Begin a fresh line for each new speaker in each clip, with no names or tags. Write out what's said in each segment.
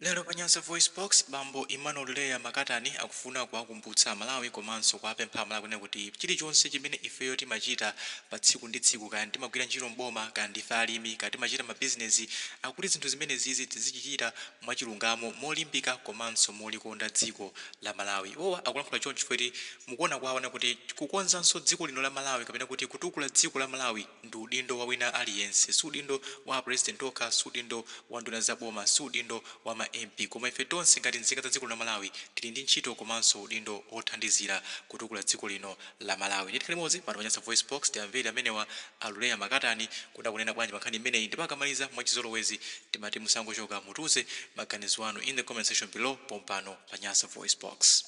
Lero pa Nyasa VoiceBox, bambo Emmanuel Lureya Makatani akufuna kuwakumbutsa Amalawi komanso kuwapempha Amalawi kunena kuti chilichonse chimene ifeyo timachita pa tsiku ndi tsiku, kaya timagwira ntchito m'boma, kaya ndife alimi, kaya timachita mabizinezi, akuti zinthu zimenezizi tizichita mwachilungamo, molimbika komanso molikonda dziko la Malawi. Iwowa akulankhula chonchi chifukwa choti mukuona kwawo anena kuti kukonzanso dziko lino la Malawi kapena kuti kutukula dziko la Malawi, Ndi udindo wa wina aliyense. Si udindo wa a President okha, si udindo wa nduna za boma, si udindo wa ma MP, koma ife tonse ngati nzika za dziko la Malawi tili ndi ntchito komanso udindo wothandizira kutukula dziko lino la Malawi. Ndiye tikhale limodzi pano pa Nyasa VoiceBox, tiamvere amenewa a Lureya Makatani kuti akunena bwanji pa nkhani imeneyi ndipo akamaliza mwachizolowezi timati musangochoka, mutiuze maganizo anu in the comment section below pompano pa Nyasa VoiceBox.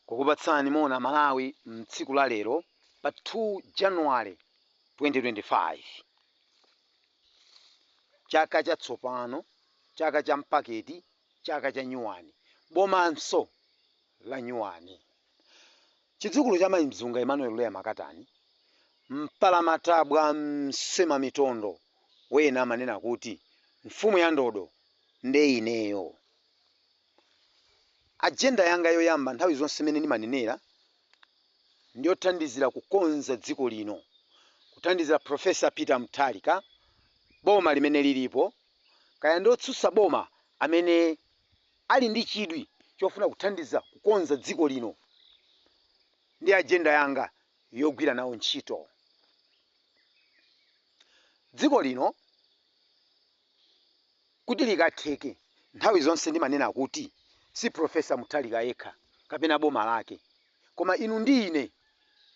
kukupatsani moni amalawi mtsiku la lero pa 2 January 2025 chaka cha tsopano chaka cha mpaketi chaka cha nyuwani bomanso la nyuwani chidzukulu cha mai mzunga Emmanuel Lureya Makatani mpalamatabwa msemamitondo wena amanena kuti mfumu ya ndodo nde ineyo. Ajenda yanga yoyamba nthawi zonse imene ndimanenera ndiyothandizira kukonza dziko lino, kuthandizira Prof. Peter Mutharika, boma limene lilipo, kaya ndi otsutsa boma amene ali ndi chidwi chofuna kuthandiza kukonza dziko lino ndi ajenda yanga yogwira nawo ntchito. Dziko lino Kuti likatheke, nthawi zonse ndimanena kuti, si Prof. Mutharika yekha kapena boma lake, koma inu ndi ine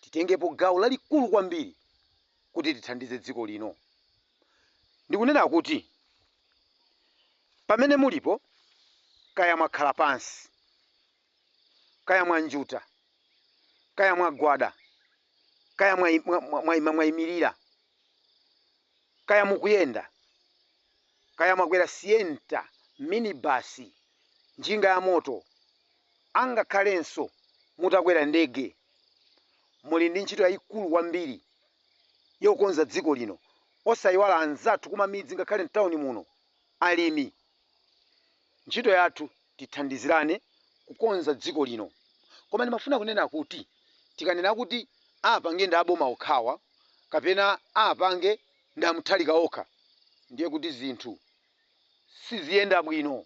titengepo gawo lalikulu kwambiri kuti tithandize dziko lino. Ndikunena kuti pamene mulipo, kaya mwakhala pansi, kaya mwanjuta, kaya mwagwada, kaya mwaimirira, kaya mukuyenda, kaya mwakwera sienta, minibasi, njinga yamoto, angakhalenso mutakwera ndege, muli ndi ntchito yaikulu kwambiri yokonza dziko lino. Osaiwala anzathu kumamidzi ngakhale m'tauni muno, alimi, Ntchito yathu tithandizirane kukonza dziko lino. Koma ndimafuna kunena kuti tikanena kuti apange ndi aboma okhawa kapena apange ndi a Mutharika okha ndiye kuti zinthu siziyenda bwino.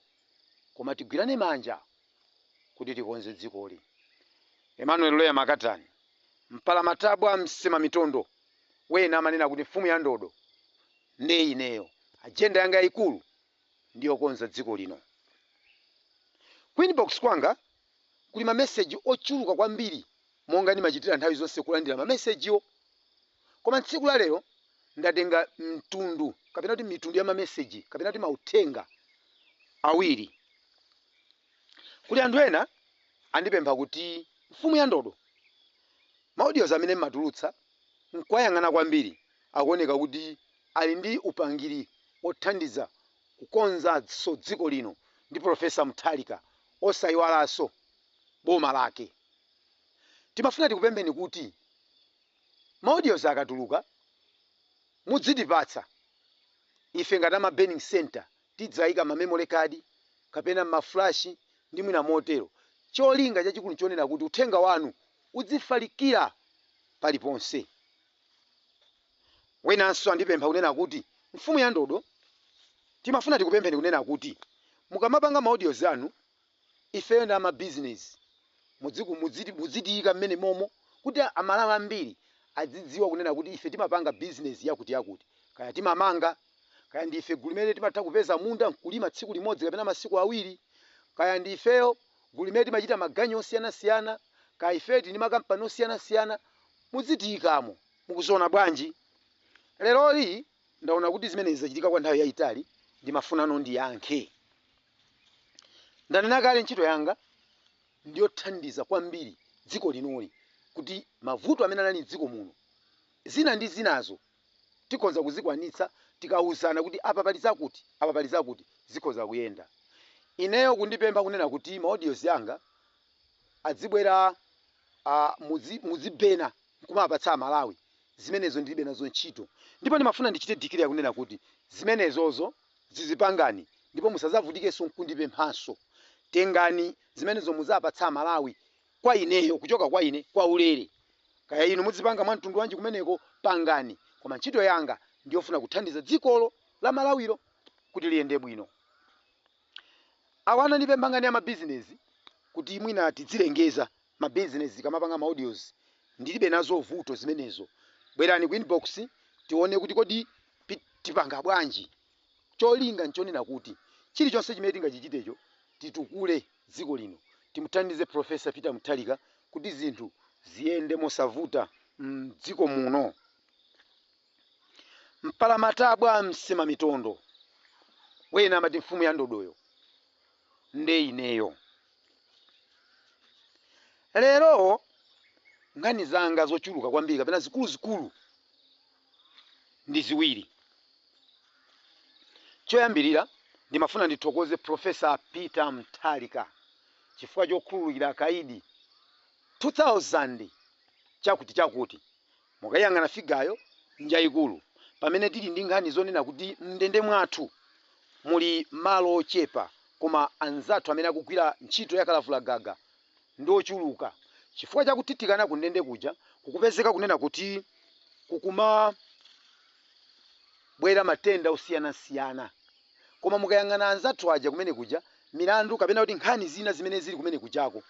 Koma tigwirane manja kuti tikonze dzikoli. Emmanuel Loya Makatani, Mpalamatabwa Msemamitondo wena amanena kuti mfumu ya ndodo nde ineyo. Ajenda yanga yaikulu ndi yokonza dziko lino. Ku inbox kwanga kuli mameseji ochuluka kwambiri monga ndimachitira nthawi zonse kulandira mamesejiwo. Koma tsiku la lero ndatenga mtundu kapena kuti mitundu ya mameseji kapena kuti mauthenga awiri. Kuli anthu ena andipempha kuti mfumu ya ndodo maudiozi amene mmatulutsa nkuwayang'ana kwambiri akuoneka kuti ali ndi upangiri othandiza kukonzanso dziko lino ndi Professor Mutharika osaiwalanso boma lake. Timafuna tikupempheni kuti maudiozi akatuluka mudzitipatsa ife ngati a ma burning centre Tidzaika mma memory card kapena ma flash ndi mwina motero. Cholinga chachikulu chonena kuti uthenga wanu udzifalikira paliponse. Wenanso andipempha kunena kuti, Mfumu Yandodo, timafuna tikupempheni kunena kuti mukamapanga ma audios anu, Ifeyo ndi ama business mudzitiyika mmene momo kuti a Malawi ambiri adzidziwa kunena kuti ife timapanga business yakuti yakuti kaya timamanga kaya ndi ife gulu limene timatha kupeza munda nkulima tsiku limodzi kapena masiku awiri kaya ndi ifeyo gulu limene timachita maganyu osiyana siyana kaya ifeyo tili ndi makampani osiyana siyana mudzitiyikamo. Mukuziona bwanji? Leroli ndaona kuti zimenezi zachitika kwa nthawi yaitali ndimafunano ndiyankhe. Ndanena kale ntchito yanga ndiyothandiza kwambiri dziko linoli kuti mavuto amene anali dziko muno zina ndi zinazo tikhonza kuzikwanitsa tikauzana kuti apa pali zakuti apa pali zakuti zikhoza kuyenda. Ineyo kundipempha kunena kuti ma audios yanga adzibwera mudzibena kumawapatsa a Malawi zimenezo ndilibe nazo ntchito ndipo ndimafuna ndichite declare kunena kuti zimenezozo Zizipangani ndipo musazavutikenso nkundipemphanso. Tengani zimenezo muzaapatsa amalawi kwa ineyo kuchoka kwa ine kwa ulere. Kaya inu mudzipanga mwa mtundu wanji kumeneko pangani koma ntchito yanga ndiyofuna kuthandiza dzikolo la malawilo kuti liyende bwino. Awa anandipempha ngani ya ma bizinezi kuti mwina tidzilengeza ma business tikamapanga ma audios ndilibe nazo vuto zimenezo bwerani ku inbox tione kuti kodi tipanga bwanji cholinga nchonena kuti chilichonse chimene tingachichitecho titukule dziko lino timuthandize professor Peter Mutharika kuti zinthu ziyende mosavuta mdziko muno mpalamatabwa msemamitondo wena amati mfumu ya ndodoyo. nde ineyo. Lero nkhani zanga zochuluka kwambiri kapena zikuluzikulu ndi ziwiri. Choyambirira ndimafuna ndithokoze Prof. Peter Mutharika chifukwa chokhululukira akaidi 2000 chakuti chakuti Mukayiyang'ana figayo, njaikulu. Pamene tili ndi nkhani zonena kuti m'ndende mwathu muli malo ochepa koma anzathu amene akugwira ntchito ya kalavulagaga ndi ochuluka, chifukwa cha kuthithikana kundende kuja kukupezeka kunena kuti kukumabwera matenda osiyanasiyana. Koma mukayang'ana anzathu aja kumene kuja, milandu kapena kuti nkhani zina zimene zili kumene kujako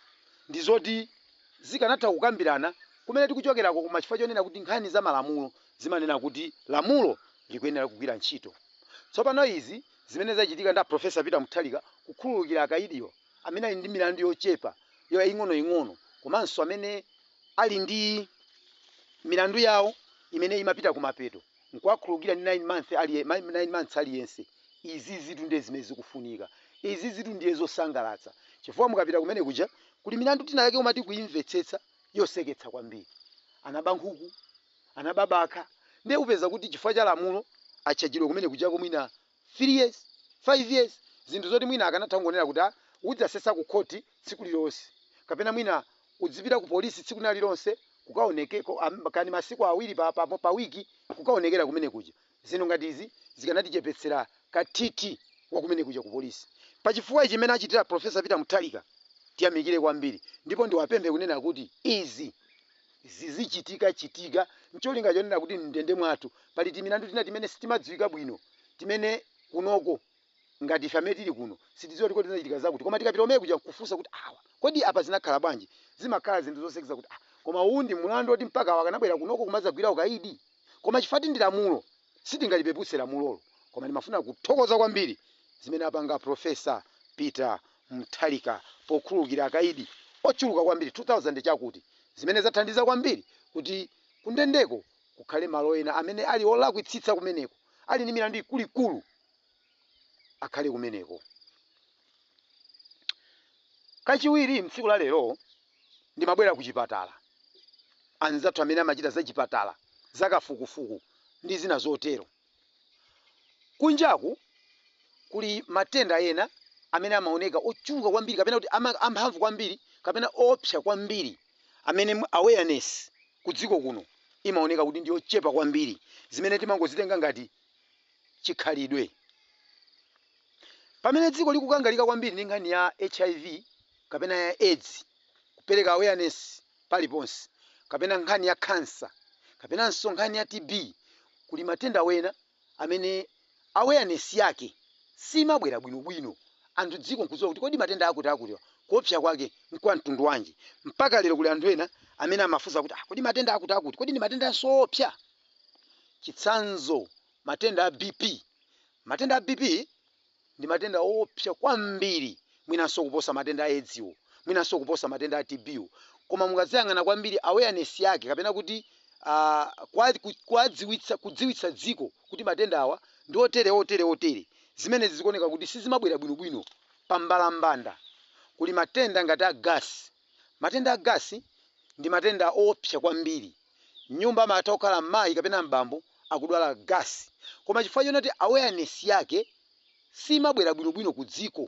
ndi zoti zikanatha kukambirana kumene tikuchokerako koma chifukwa chonena kuti nkhani za malamulo zimanena kuti lamulo likuyenera kugwira ntchito. Tsopano izi zimene zachitika ndi a Prof. Peter Mutharika kukhululukira akaidiwo amene ali ndi milandu yochepa yaing'onoing'ono komanso amene ali ndi milandu yawo imene imapita kumapeto, nkuwakhululukira ndi 9 months aliyense izizitu ndiye zimene zikufunika izizitu ndiye zosangalatsa chifukwa mukapita kumene kuja kuli milandu tina yake umati ukaimvetsetsa yoseketsa kwambiri anaba nkhuku anaba bakha ndiye upeza kuti chifukwa cha lamulo atchajidwa kumene kujako mwina 3 years, 5 years, zinthu zoti mwina akanatha kungonena kuti ah udzasesa ku khoti tsiku lililonse kapena mwina udzipita ku police tsiku lina lililonse kukaonekeko kaya ndi masiku awiri pa pa pa week kukaonekera kumene kuja. Zinthu ngati izi zikanatichepetsera kathithi wa kumene kuja ku police. Pa chifukwa ichi mmene achitira Prof. Peter Mutharika tiyamikire kwambiri ndipo ndiwapemphe kunena kuti izi. zizichitikachitika n'cholinga chonena kuti m'ndende mwathu pali timilandu tina timene sitimadziwika bwino, timene kunoko ngati ife amene tili kuno sitidziwa kuti kodi zinachitika zakuti. Koma tikapita kumene kuja n'kufunsa kuti, Awa, kodi apa zinakhala bwanji? Zimakhala zinthu zoseketsa kuti, Ah, koma uwu ndi mlandu woti mpaka awa akanabwera kunoko kumadzagwira ukaidi? Koma chifukwa kuti ndi lamulo, sitingalipeputse lamulolo. Koma ndimafuna kuthokoza kwambiri zimene apanga Prof. Peter Mutharika pokhululukira akaidi ochuluka kwambiri 2000 chakuti zimene zathandiza kwambiri kuti kundendeko kukhale malo ena amene ali olakwitsitsa kumeneko ali ndi milandu ikuluikulu akhale kumeneko kachiwiri mtsiku la lero ndimabwera ku chipatala anzathu amene amachita zachipatala zakafukufuku ndi zina zotero Kunjaku kuli matenda ena amene amaoneka ochuluka kwambiri kapena kuti amphamvu kwambiri kapena oopsa kwambiri amene awareness kudziko kuno imaoneka kuti ndiyochepa kwambiri zimene timangozitenga ngati chikhalidwe. Pamene dziko likukangalika kwambiri ndi nkhani ya HIV kapena ya Edzi kupereka awareness, paliponse, kapena nkhani ya khansa, kapenanso nkhani ya TB, kuli matenda wena amene awareness yake siimabwera bwino bwino anthu dziko nkudziwa kuti kodi matenda akutiakuti kuopsa kwake nkwa mtundu wanji. Mpaka lero kuli anthu ena amene amafunsa kuti ah kodi matenda akuti akuti kodi ndi matendaso oopsa? Chitsanzo matenda a BP, matenda a BP. Ndi matenda oopsa kwambiri mwinanso kuposa matenda a Edziwo, mwinanso kuposa matenda a TBwo. Koma mukaziyang'ana kwambiri awareness yake kapena kuti kuwadziwitsa kudziwitsa dziko kuti matenda awa ndi otere otere otere zimenezi zikuoneka kuti sizimabwera bwinobwino. Pa mbalambanda kuli matenda ngati a gasi. Matenda a gasi ndi matenda oopsa kwambiri. M'nyumba amatha kukhala mayi kapena m'bambo akudwala gasi koma chifukwa chonoti awareness yake siimabwera bwinobwino ku dziko,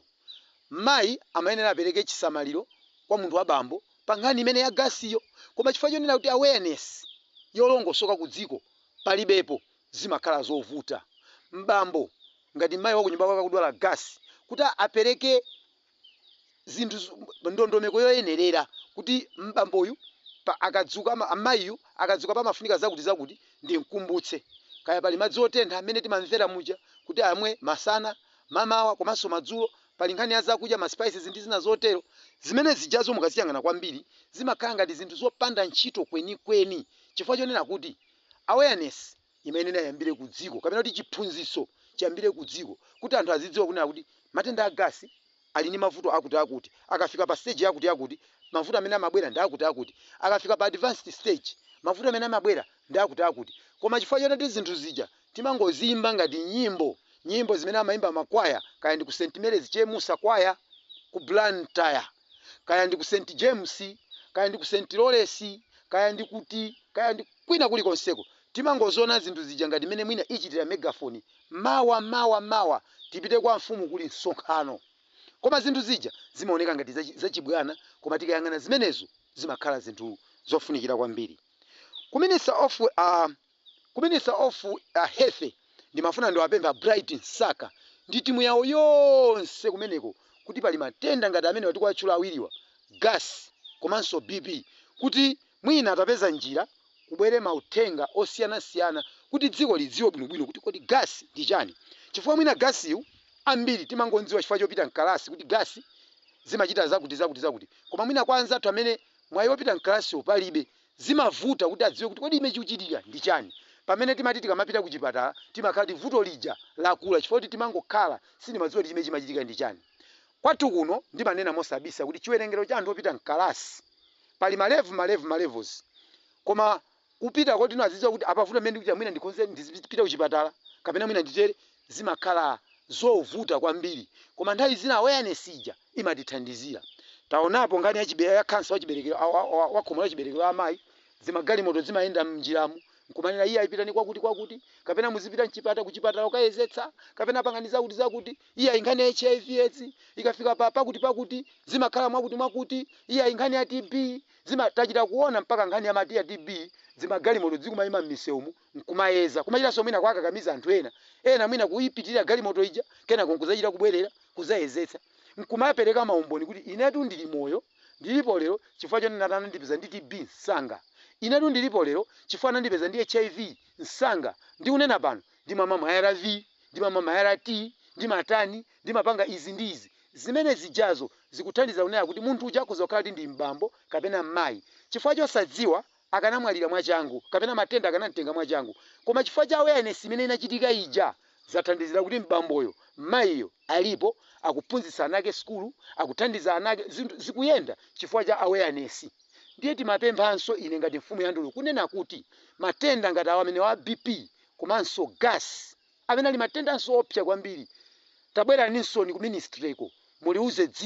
mayi amayenera apereke chisamaliro kwa munthu wa bambo pa nkhani imene ya gasiyo koma chifukwa chonena kuti awareness yolongosoka ku dziko palibepo zimakhala zovuta m'bambo ngati mayi wa kunyumba kwake akudwala gasi kuti apereke zinthu z- m- ndondomeko yoyenerera kuti m'bamboyu pa- akadzuka ama- amayiyu akadzuka pamafunika zakuti zakuti ndimkumbutse kaya pali madzi otentha amene timamvera muja kuti amwe masana mamawa komanso madzulo pali nkhani ya zakudya ma spices ndi zina zotero zimene zijazo mukaziyang'ana kwambiri zimakhala ngati zinthu zopanda ntchito kwenikweni chifukwa chonena kuti awareness imene inayambire ku dziko kapena kuti chiphunzitso chiyambire ku dziko kuti anthu azidziwa kunena kuti matenda a gasi ali ndi mavuto akuti akuti akafika pa stage yakuti yakuti mavuto amene amabwera ndi akuti akuti akafika pa advanced stage mavuto amene amabwera ndi akuti akuti koma chifukwa chonoti zinthu zija timangoziyimba ngati nyimbo nyimbo zimene amayimba makwaya kaya ndi ku St Mary's Chemusa kwaya ku Blantyre kaya ndi ku St James, kaya ndi ku St Loresi, kaya ndi kuti, kaya ndi kwina kulikonseko, timangoziona zinthu zija ngati mmene mwina ichitira megafoni, Mawa, mawa, mawa tipite kwa mfumu kuli msonkhano. Koma zinthu zija zimaoneka ngati zachibwana koma tikayang'ana zimenezo zimakhala zinthu zofunikira kwambiri. Ku minister of uh, Ku minister of health ndimafuna ndiwapemphe a Bright Msaka ndi timu yawo yonse kumeneko kuti pali matenda ngati amenewa tikuwatchula awiriwa, gas komanso BP, kuti mwina atapeza njira kubwere mauthenga osiyanasiyana kuti dziko lidziwe bwinobwino kuti kodi gas ndi chani chifukwa mwina gas yu ambiri timangomdziwa chifukwa chopita mkalasi kuti gas zimachita zakuti zakuti koma mwina kwa anzathu amene mwayi opita mkalasiwo palibe zimavuta kuti adziwe kuti kodi chimene chikuchitika ndi chani pamene timati tikamapita ku chipatala timakhala kuti vuto lija lakula chifukwa choti timangokhala sitimadziwa kuti chimene chimachitika ndi chani kwathu kuno ndimanena mosabisa kuti chiwerengero cha anthu opita mkalasi pali ma lev ma lev ma levels koma kupita kotino azidziwa kuti apa vuto limene ndikuchita mwina ndikhonze ndizipita ku chipatala kapena mwina nditere zimakhala zovuta kwambiri koma nthawi zina awareness ija imatithandizira taonapo nkhani ya chibele ya cancer wa chiberekero wa khomo la chiberekero la amayi zimagalimoto zimayenda mnjiramu nkumanena iyayi pitani kwakuti kwakuti kapena muzipita mchipata kuchipatala kukayezetsa kapena pangani zakuti zakuti iyayi nkhani ya hiv edzi ikafika pa pakuti pakuti zimakhala mwakuti mwakuti iyayi nkhani ya TB zima tachita kuona mpaka nkhani ya mati ya TB zimagalimoto zikumayima mmisewumu nkumayeza, kumachitanso mwina kuwakakamiza anthu ena, ena mwina kuipitirira galimoto ija, kenako nkudzachita kubwerera, kudzayezetsa, nkumapereka maumboni kuti, Inetu ndili moyo, ndilipo lero chifukwa choti ndinati anandipeza ndi TB msanga. Inetu ndilipo lero chifukwa anandipeza ndi HIV msanga. Ndikunena pano, ndimamwa ma arv, ndimamwa ma ART, ndimatani, ndimapanga izi ndi izi. Zimene zijazo zikuthandiza kunena kuti munthu uja akhoza kukhala kuti ndi m'bambo kapena m'mayi. Chifukwa chosadziwa, akanamwalira mwachangu kapena matenda akanamtenga mwachangu koma chifukwa cha awareness imene inachitika ija zathandizira kuti m'bamboyo, mmayiyo alipo akuphunzitsa ana ake sukulu, akuthandiza ana ake zikuyenda chifukwa cha awareness. Ndiye timapemphanso ine ngati mfumu ya Ndululu kunena kuti matenda ngati awa amenewa a BP komanso gas amene ali matendanso oopsa kwambiri tabweraninsoni ku ministryko muliuze dziko.